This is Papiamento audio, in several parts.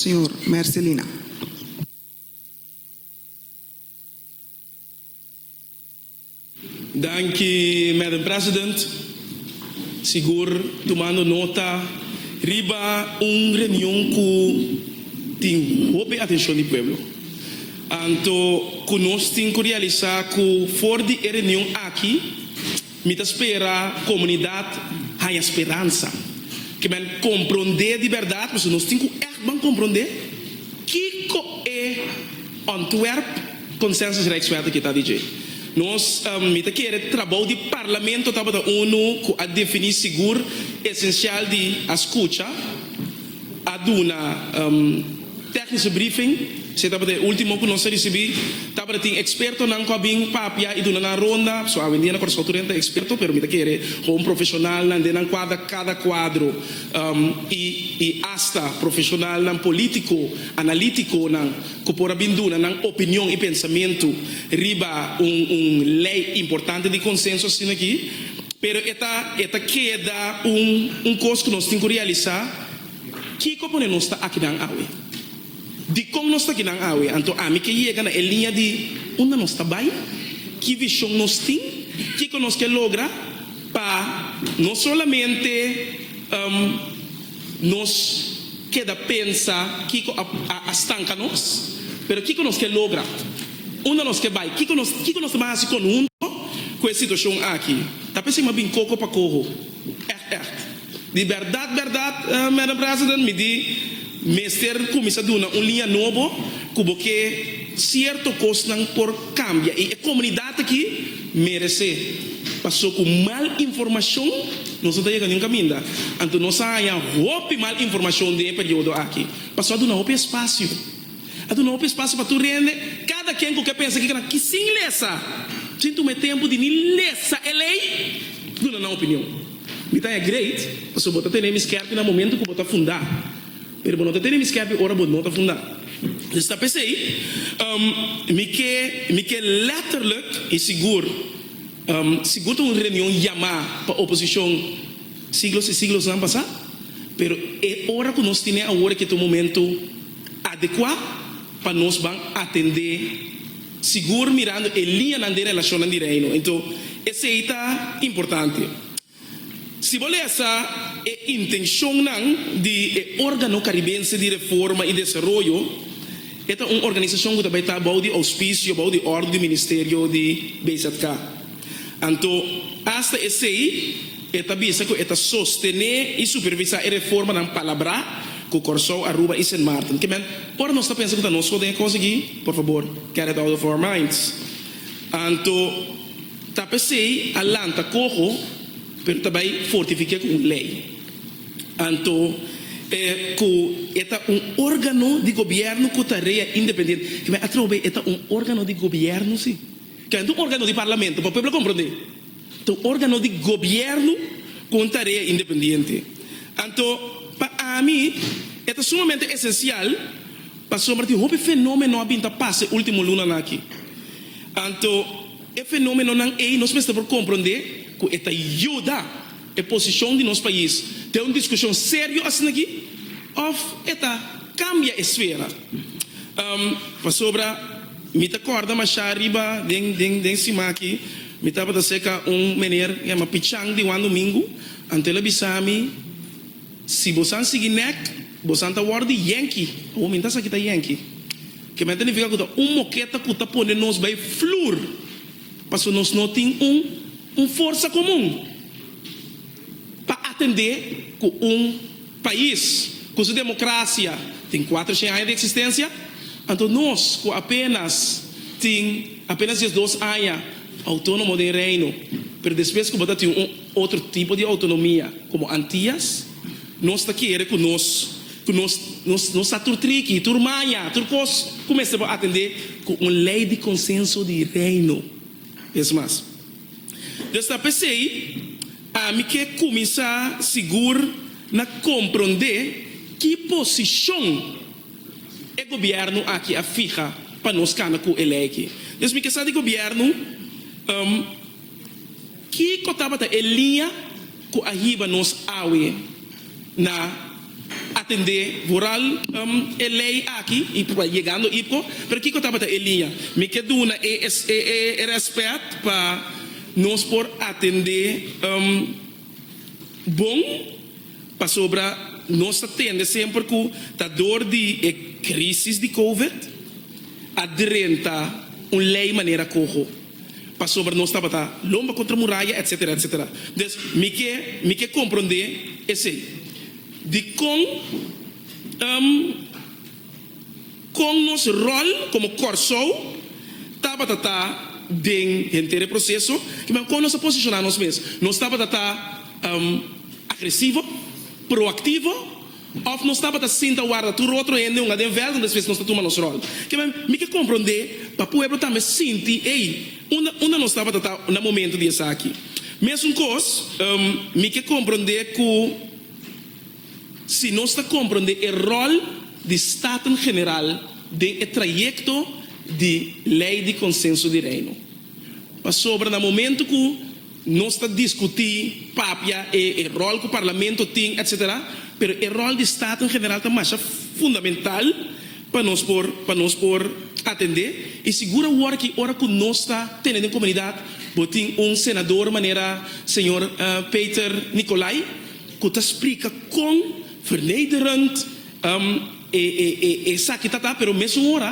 Señor. Merci Lina. Danki Madam President. Sigur tumando nota riba un reunion cu tin hopi atencion di pueblo. Anto cu nos tin cu realisa cu for di e reunion aki, Mi ta spera komunidat haña speransa, ke men komprondé di bèrdat, pasobra nos tin ku ègt ban komprondé kiko e Antwerp Consensus Rijkswet aki ta, di dje. Nos, mi ta kere trabou di Parlamento tabata unu ku a definí sigur esensial di a skucha, a duna. Technische briefing, Se tabata e ultimo cu nos a ricibi. Tabata tin expertonan cu a bin papia y duna nan ronda. So, awendia na Curaçao tur hende ta experto, pero mi ta kere hoon profesionalnan den nan cuadra cada cuadro y y hasta profesionalnan politico, analiticonan cu por a bin duna nan opinion y pensamento riba un un ley importante di consenso asina aki. Pero e ta e ta keda un un cos cu nos tin cu realisa. Kiko pone nos ta akinan awe? Dikon nos ta kinan awe? Anto ami ke yega na e liña di unda nos ta bai? Ki vishon nos tin? Kiko nos ke logra pa no solamente nos keda pensa kiko a stanka nos, pero kiko nos ke logra? Unda nos ke bai? Kiko nos kiko nos ta ban hasi konhunto ku e situashon aki? Ta p'esei m'bin koko pa koho. Ect. Di bèrdat bèrdat, Madam President, mi di mester kuminsá duna un liña nobo ku bo ke sierto kosnan por kambia i e komunidat aki meresé. Pasó ku mal informashon nos no ta yega niun kaminda, anto nos a haña hopi mal informashon den e periodo aki. Pasó a duna hopi espasio, a duna hopi espasio pa tur hende, kada ken ku ke pensa ke keda kisin lesa, sin tuma e tempu di ni lesa e lei, duna nan opinion. Mi ta e great pasobra bo ta tene mi skerpi na momento ku bo ta fundá, pero bo no ta tene mi skerpi ora bo no ta fundá. Distá ta p'esei mi ke mi ke letterlijk i sigur si bo ta un reunion yamá pa oposishon siglos i siglosnan pasá, pero e ora ku nos tene awor e ke ta un momento adekuá pa nos ban atendé. Sigur mirando e liñanan den relashonnan di Reino. Anto, esei ta importante. Si bo lesa e intenshonnan di e Órgano Karibense di Reforma i Desaroyo, e ta un organisashon ku ta bai ta bou di ouspisio, bou di òrdu di Ministerio di BZK. Anto, asta esei. E ta bisa cu e ta sostene y supervisa e reformanan palabrá cu Corsou, Aruba y Sint Maarten ke men. Ora nos ta pensa cu ta nos schold den e cos aki, por fabor, get it out of our minds. Anto ta pesey a lanta coho, pero ta bay fortifique cu un ley. Anto e cu e ta un organo di gobierno cu tarea independiente, ke men a trobe e ta un organo di gobierno si, ke men ta un organo di parlamento, pa pueblo a comprende. Ta un organo di gobièrnu ku un tarea independiente. Anto pa ami e ta sumamente esensial pasobra tin hopi fenómenonan a bin ta pasa e último lunanan aki. Anto e fenómenonan ei nos mester por komprondé ku e ta yuda e posishon di nos pais den un diskushon serio asin'aki òf e ta kambia e sfera. Pasobra. Mi ta kòrda mashá riba den den den siman aki mi tabata serka un meneer yama Pichan di Juan Domingo anto el a bisa mi si bosan sigui nèk bosan ta wòrdu di Yankee awor mi no ta sa kita Yankee ke mester nifika ku ta un moketa ku ta pone nos bai flur paso nos no tin un un forsa komun pa atende ku un Pais ku su demokrasia tin kuater shen aña di eksistensia, anto nos ku apenas tin apenas dies dos aña outónomo den Reino, pero despues ku bo ta tin un otro tipo di outonomia komo Antias, nos ta kere ku nos ku nos nos nos sa tur triki, tur maña, tur kos ku mester bo atendé ku un lei di konsenso di Reino. Es mas. Destapesei, ami ke kuminsá sigur na komprondé ki posishon e gobièrnu aki a fiha pa nos kana ku e lei aki. Entonces mi ke sa di gobièrnu, Kiko tabata e liña ku a hiba nos awe? na atendé rural um e ley aki y pa yegando Ipco pero kico tabata e liña mi ke duna e e respet pa nos por atendé um bon pasobra nos ta tende semper cu ta door di e crisis di covid a drenta un ley manera coho. Pasobra nos tabata lomba contra muraya, etc. Etc. Des, mi ke, mi ke compronde esey. Dicon, um, con nos rol como Corsou tabata ta den henter e proceso? Kiman con nos a posiciona nos mes? Nos tabata ta, um, agresivo? Proactivo? Òf nos tabata sinta warda tur otro hende un aden vèlden despues nos ta tuma nos ròl. Kebei mi ke komprondé pa pueblo tambe sinti ei unda unda nos tabata ta na momentu di esaki. Mesun kos, mi ke komprondé ku si nos ta komprondé e ròl di Staten General den e trayekto di Lei di Konsenso di Reino, pasobra na momentu ku Nos ta discutí, papia e e rol cu Parlamento tin etc. Pero e rol di Staat en general ta masha fundamental pa nos por pa nos por atendé. Y sigur awor aki ora cu nos ta tene den comunidad bo tin un Senador manera Señor Peter Nicolay cu ta splica con vernederend e e e esaki ta ta pero mesun ora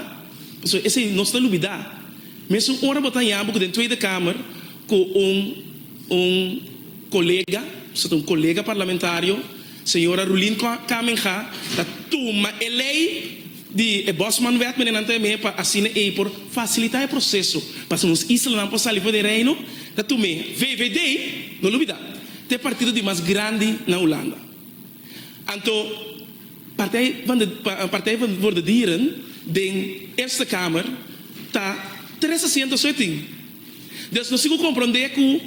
pasobra esei nos ta lubida mesun ora bo ta haña bo cu den Tweede Kamer Cu un un colega, su ta un colega parlamentario, señora Rulin Kamenga, ta tuma e ley di e Bosmanwet menenan ta e mee pa asina ey por facilita e proceso pa nos islanan por sali paden Reino, ta tume VVD, no lubida, ta e partido di mas grandi na Hulanda. Anto. Partij van de Partij voor de Dieren den Eerste Kamer ta tres asiento so e tin. Dus nos tin ku komprondé ku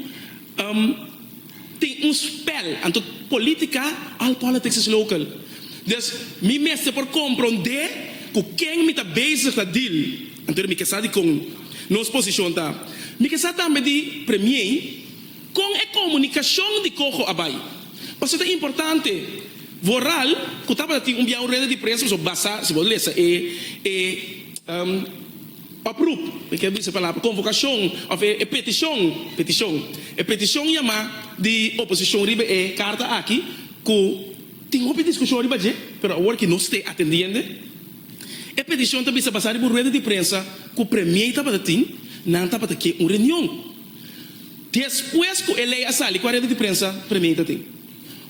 tin un spèl, anto polítika, all politics is local. Dus mi mester por komprondé ku ken mi ta bezig ta deal, anto mi ke sa dikon nos posishon ta. Mi ke sa tambe di Premiei. Kon e komunikashon di Coho a bai? Pasobra ta importante. Vooral ku tabata tin un biaha un rede di prensa pasobra basa, si bo lesa e e oproep, mi kier bisa e palabra, konvokashon òf e petishon, petishon, e petishon yamá di oposishon riba e karta aki ku tin hopi diskushon riba dje pero awor aki no st'e atendiende. E petishon ta bisa basá riba un rede di prensa ku premiei tabata tin, nan tabata ke un reunion. Despues ku e lei a sali, kua renta di prensa Premier ta tin?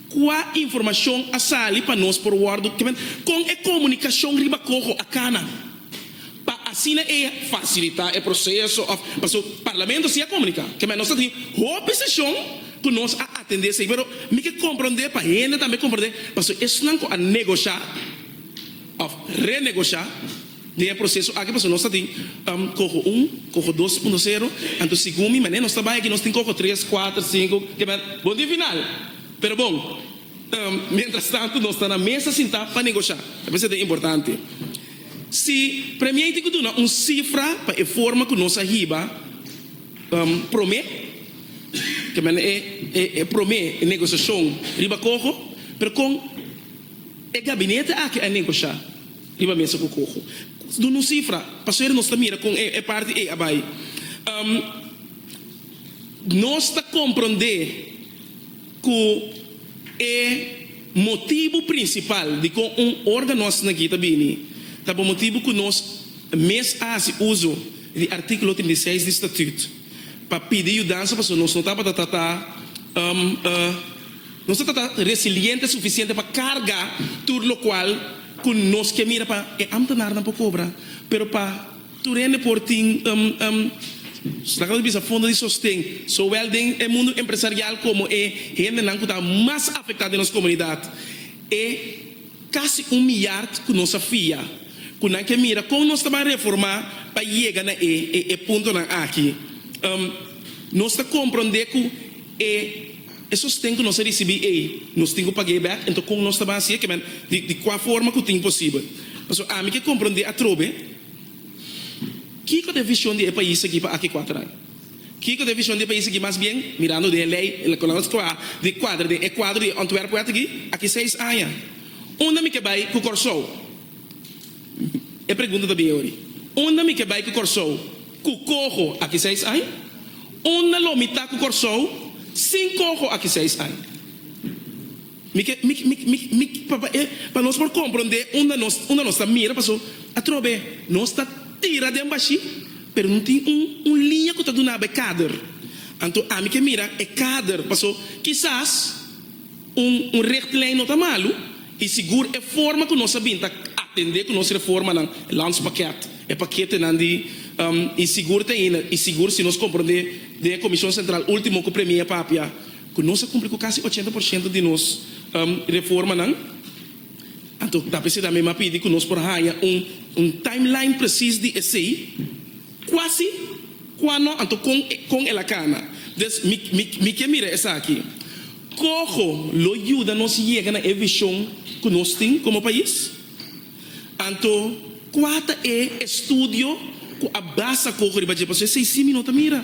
Kua informashon a sali pa nos por wòrdu kemen? Kon e komunikashon riba koho a kana pa asina e fasilitá e proseso òf pasobra Parlamento si a komuniká kemen? Nos ta tin hopi seshon ku nos a atendé esei, pero mi ke komprondé pa hende tambe komprondé pasobra esnan ku a negoshá òf renegoshá, Den e proseso aki pasobra nos ta tin koho un, koho dos punto sero, anto segun mi manera nos ta bai aki nos tin koho tres, kuater, sinku, kiba bo tin final. Pero bon, mientras tanto nos ta na mesa sinta pa negoshá, ta mester ta importante. Si Premier tin ku duna un sifra pa e forma ku nos a hiba promé, kiba na e promé negosiashon riba koho, pero kon e gabinete aki a negoshá? Riba mesa cu coho. Duna un cifra pasobra nos ta mira con e parti ey a bay. Nos ta comprende cu e motibu principal dicon un orga nos naki ta bini ta bo motibu cu nos mes a haci uzo di articulo trinta i seis di Statut pa pidi yudansa pasobra nos no tabata tata. Nos ta ta resiliente suficiente pa carga tur locual cu nos ke mira pa e ambtenarnan por cobra, pero pa tur hende por tin um um laga nos bisa fondo di sosten, zowel den e mundo empresarial como e hendenan cu ta mas afecta den nos comunidad. E casi un miyaard cu nos a fia, cu nan ke mira con nos ta ban reforma pa yega na e e e puntonan aki, um nos ta comprende cu e. E sosten ku nos a risibí ei, nos tin ku pag'é bèk. Anto kon nos ta ban hasié kimen? Di kua forma ku tin posibel? Pasobra ami ke komprondé atrobe kiko ta e vishon di e pais akí pa aki kuater aña. Kiko ta e vishon di e pais akí mas bien mirando den e lei ku nan a skua di kuadra den e kuadro di Antwerp wet akí, aki seis aña. Unda mi ke bai ku Kòrsou? E pregunta ta bin ei ora ei. Unda mi ke bai ku Kòrsou? Ku koho aki seis añ? Unda lo mi ta ku Kòrsou sin koho aki seis añ? Mi ke mi mi mi mi pa e pa nos por komprondé unda nos unda nos ta mira paso atrobe nos ta tira den bashi pero no tin un un liña ku ta dunaba e kader. Anto ami ke mira e kader paso kisas. Un un richtlijn no ta malu i sigur e forma ku nos a bin ta atendé ku nos reformanan, e landspakket, e paketenan di i sigur te hina i sigur si nos komprondé den e komishon sentral último ku Premie a papia ku nos a kumpli ku kasi ochenta por shento di nos reformanan. Anto ta p'esei tambe mi a pidi ku nos por haña un un timeline presis di esei. Kuasi kua no, anto kon e kon el a kana? Des mi mi mi ke mira esaki, Koho lo yuda nos yega na e vishon ku nos tin komo pais? Anto kua ta e estudio ku a basa Koho riba dje? Pasobra esei si mi no ta mira.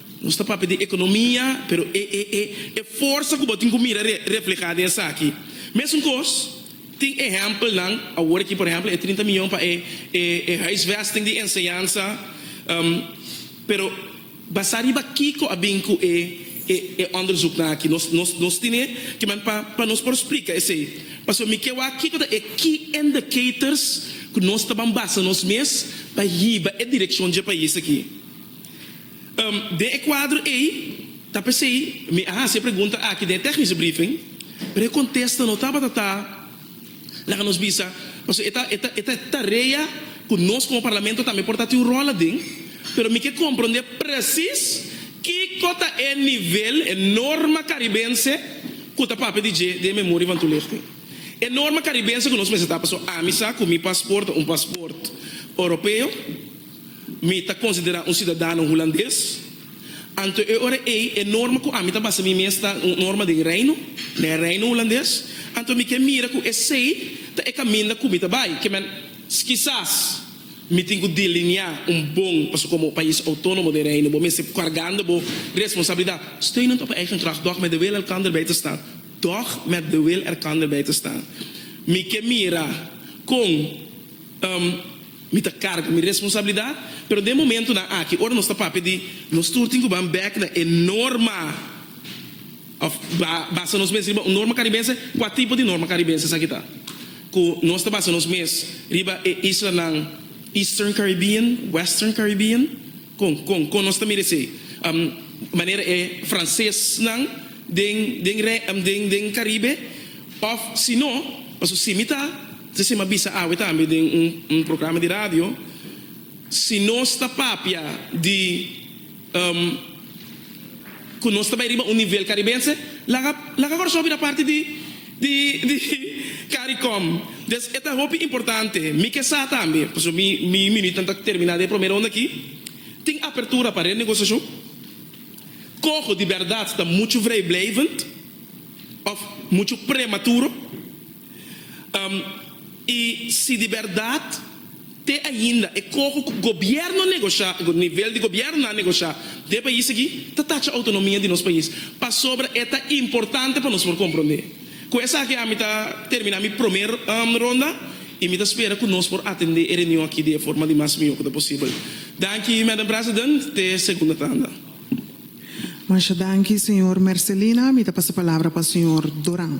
Nos ta papia di economia, pero e e e e forsa cu bo tin cu mira re refleha den esaki. Mesun cos, tin ehempelnan awor aki, por ehempel, e trinta miyon pa e e e huisvesting di enseñansa, um, pero basa riba kico a bin cu e e e onderzoeknan aki? Nos nos nos tine que men pa pa nos por splica esey. Pasobra mi ke wak kico ta e key indicators cu nos taban basa nos mes pa hiba e direccion dje pais aki. Den e kuadro ei ta p'esei mi a hasi e pregunta aki den e tèknische briefing, pero e kontesta no tabata ta, laga nos bisa, pasobra e ta e ta e tarea ku nos komo Parlamento tambe por ta tin un ròl aden, pero mi ke komprondé presis kiko ta e nivel, e norma karibense ku ta papia di dje den e memoria van toelichting. E norma karibense ku nos mester ta, pasobra ami sa ku mi pasport ta un pasport oropeo, Mi ta konsiderá un sidadano hulandes, anto e ora ei e norma ku ami ta basa mi mes ta un norma den Reino, na e Reino hulandes, anto mi ke mira ku esei ta e kaminda ku mi ta bai. Ke men, kisas mi tin ku deliniá un bon paso komo pais outónomo den Reino bo mester kargando bo responsabilidat. Steun en op eigen kracht, doch met de wil elkander bij te staan. Doch met de wil erkander bij te staan. Mi ke mira kon. Mi ta carga cu mi responsabilidad, pero den momentonan aki, ora nos ta papia di nos tur tin cu ban bek na e norma of ba basa nos mes riba un norma Caribense, cua tipo di norma Caribense esaki ta? Cu nos ta basa nos mes riba e islanan Eastern Caribbean, Western Caribbean? Kon, kon, kon nos ta mira esei? Am, manera e francesnan den, den re, am, den, den Caribe, of si no, paso si mi ta, ta ser ma bisa awe tambe den un, un programa di radio, si nos ta papia di, am, cu nos ta bay riba un nivel caribense, laga, laga Kòrsou bira parti di. Di di Caricom. Des e ta hopi importante. Mi ke sa tambe, pasobra mi mi minutonan ta terminá den e promé ronda akí. Tin apertura pa renegosiashon? Koho di bèrdat ta muchu vrijblijvend òf muchu prematuro? I si di bèrdat te ainda e koho ku gobièrnu negoshá, ku nivel di gobièrnu nan a negoshá den e pais aki ta tacha outonomia di nos pais pasobra e ta importante pa nos por komprondé. Ku esaki ami ta terminá mi promé ronda i mi ta spera ku nos por atendé e reunion aki di e forma di mas mihó ku ta posibel. Danki, Madam President, te segunda tanda. Masha danki, señor Mercelina. Mi ta pasa palabra pa señor Duran.